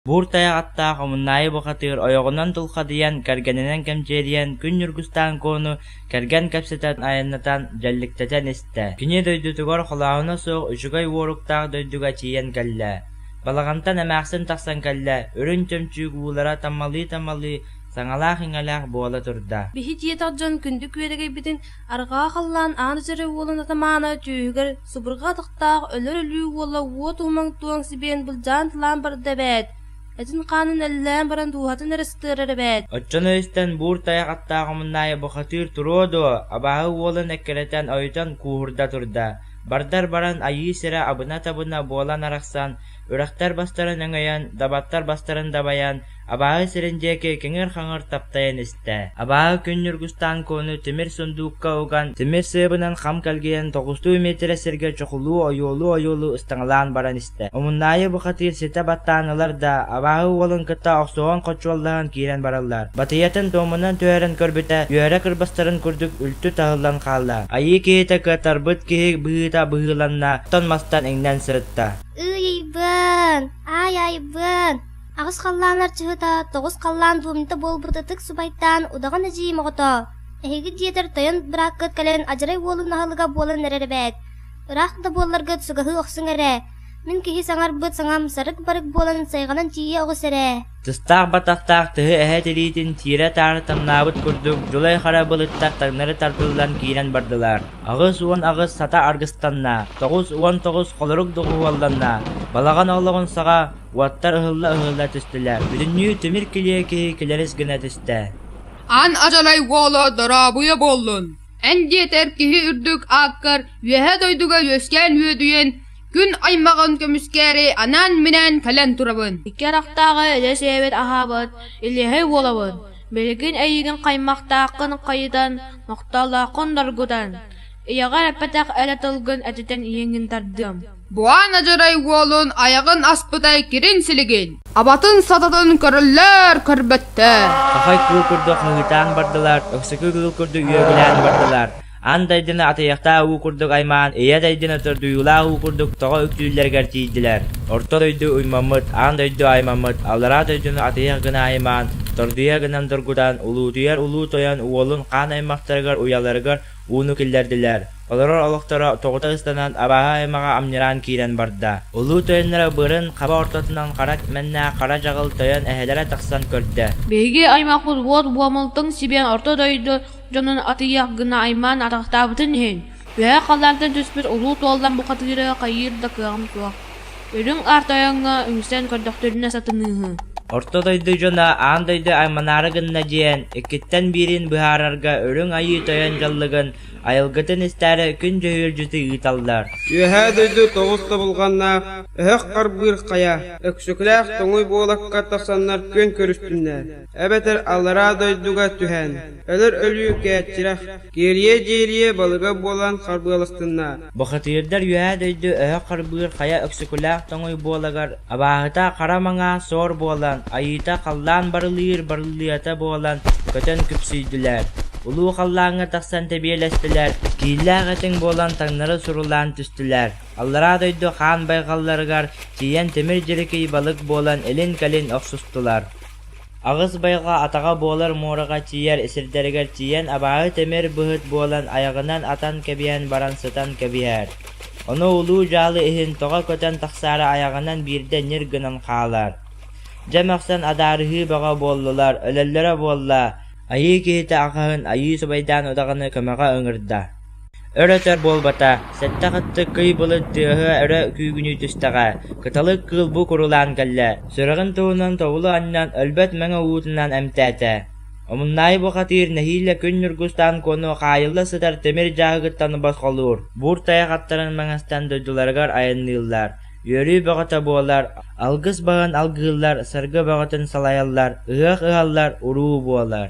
Буур тайах аттаах омуннаайы бухатыыр ойоҕунан дулхадыйан, кэргэнинэн кэмчилийэн күн ньургустаан куону кэргэн кэпсэтэн айаннатан, дьэлликтэтэн истэ. Кини дойдутугар холооһуна суох үчүгэй уоруктаах дойдуга тиийэн кэллэ. Балаҕантан эмээхсин тахсан кэллэ, үрүн чөмчүүк уулара таммалыы-таммалыы саҥалаах-иҥэлээх буола турда. Биһи дьиэтэх дьон күндү күөрэгэйбитин арҕаа халлаан аан дьэрэ уолун атамаана түөһүгэр субурҕа атахтаах өлөр-өлүү уола уо туумаҥ туоҥ сибиэн былдьаан тылаан барда эбээт этин-хаанын эллээн баран дууһатын эрэ сытыарар эбээт оччон өйстөн буур тайах аттаах омуннаайы бухатыыр туруо дуо абааһы уолун эккирэтэн ойутан кууһурда турда бардар баран айыы сирэ абына-табына буолан арахсан үрэхтэр бастарын өҥөйөн дабаттар бастарын дабайан Абааһы сирин диэки киҥир-хаҥыр таптайан истэ. Абааһы күн ньургустаан куону тимир сундуукка уган, тимир сыабынан хам кэлгийэн тоҕустуу миэтирэ сиргэ чохулуу ойуолуу-ойуолуу ыстаҥалаан баран истэ. Омуннаайы бухатыыр ситэ баттаан ылар да, абааһы уолун кытта охсуһан хочуоллаһан киирэн бараллар. Батыйатын дуомунан түһэрэн көрбүтэ, үөрэ кырбастарын курдук үлтү таһыллан хаалла. Айыы киһитэ кытарбыт киһи быһыыта быһыыланна, оттон мастан иҥнэн сырытта. Ый-айбын, ай-айбын. Аҕыс халлаанар чыһыта, тоҕус халлаан буомньута буолбут ытык субайтаан удаҕан эдьиий моҕото, эһиги дьиэтэр тойон бырааккыт кэлэн адьырай уолун аһылыга буолан эрэр эбээт, ыраах да буолларгыт сугаһыы охсуҥ эрэ, мин киһи саҥарбыт саҥам сарык-барык буолан сайҕанан тиийэ оҕус эрэ. Тыстаах баттахтаах тыһы эһэ тириитин сиирэ-таары тамнаабыт курдук дьулай-хара былыттар таҥнары тардыллан киирэн бардылар. Аҕыс уон аҕыс сата аргыстанна, тоҕус уон тоҕус холорук доҕуһуолланна, балаҕан олоҕун саҕа Уоттар ыһылла-ыһылла түстүлэр, бүтүннүү тимир килиэ киһи килэрис гына түстэ «Эн Адьалай уола дорообуйа буоллун!» эн диэтэр киһи үрдүк ааккар Үөһээ дойдуга үөскээн үөдүйэн күн аймаҕын көмүскээри анаан-минээн кэлэн турабын икки харахтааҕы эдэр-сээбэт аһаабыт илиэһэй уолабын билигин эйиигин аймахтааххын хайытан махталлааххын доргутан ийэҕэр эппэтэх эрэ тылгын этитэн иһиҥҥин тардыам Буһаан Адьырай уолун айаҕын аспытай кирин силигин, абатын сататын көрөллөр-көрбөттөр. Хахай кыыл курдук хыһыытаан бардылар, Өксөкү кыыл курдук үөгүлээн бардылар. Аан дайдыны атыйахтаа уу курдук аймаан, ийэ дайдыны сордуйуулаа уу курдук тоҕо үктүүллэригэр тиийдилэр. Орто дойду уймаммыт, аан дойду аймаммыт, аллараа дойдуну атыйах гына аймаан, тордуйа гынан доргутан, улуутуйар улуу тойон уолун хаан аймахтарыгар уйаларыгар ууну киллэрдилэр. Олорор олохторо тоҕута ыстанан абааһы аймаҕа амньыраан киирэн барда. Улуу тойонноро быарын хаба ортотунан хара тимэннээх хара дьаҕыл тойон эһэлэрэ тахсан көрдө. Биһиги аймах удуот буомултан сибиэн орто дойду дьонун атыйах гына аймаан атахтаабытын иһин, үһэ халлаантан түспүт улуу туоллан бухатыыры хайыыр да кыаҕым суох. Үрүҥ Аар Тойоҥҥо үҥсэн көрдөхтөрүнэ сатаныыһы. Орто дойду дьоно аан дойду айманаары гынна диэн, иккиттэн биирин быһаарарга Үрүҥ Айыы Тойон дьаллыгын, айылгытын истээри күн дьөһүөлдьүтү ыыталлар. Үөһээ дойду тоҕус тобулҕаннаах өһөх харбыыр хайа, Өксөкүлээх тоҥуй буолакка тахсаннар күөн көрүстүннэр, эбэтэр аллараа дойдуга түһэн, өлөр өлүүкээччирэх, киэрийэ-дьиирийэ балыга буолан харбыаластынна. Бухатыырдар үөһээ дойду өһөх харбыыр хайа өксөкүлээх тоҥуй буолагар абааһыта хара маҥаа суор буолан, айыыта халлаан барылыыр барылыйата буолан көтөн күпсүйдүлэр. Улуу халлааҥҥа тахсан тэбиэлэстилэр, кииллээх этиҥ буолан таҥнары сурулаан түстүлэр. Аллараа дойду хаан байҕалларыгар тиийэн тимир дьирикий балык буолан илин-кэлин охсустулар. Аҕыс байҕа атаҕа буолар муораҕа тиийэр сирдэригэр тиийэн абааһы тимир быһыт буолан айаҕынан атан кэбиһэн баран сытан кэбиһэр, ону улуу-дьаалы иһин тоҕо көтөн тахсаары айаҕынан биирдэ ньир гынан хаалар. Дьэ мөхсөн адаарыһыы бөҕө буоллулар, өлөллөрө буолла, айыы киһитэ аҕаһын айыы субайдаан удаҕаны көмөҕө ыҥырда. Өр өтөр буолбата, сэттэх аттык кый былыт тыаһа өрө күүгүнүү түстэҕэ, кыталык кыыл бу курулаан кэллэ, сүрэҕин туһунан тобулу анньан, өлбөт мэҥэ уутунан эмтээтэ. Омуннаайы бухатыыр нэһиилэ күн ньургустаан куону хаайылла сытар тимир дьааһыгыттан босхолуур, буур тайах аттарын маҥастан дойдуларыгар айанныыллар, үөрүү бөҕөтө буолар, алгыс баҕын алгыыллар, саргы бөҕөтүн салайаллар, ыһыах ыһаллар, уруу буолар.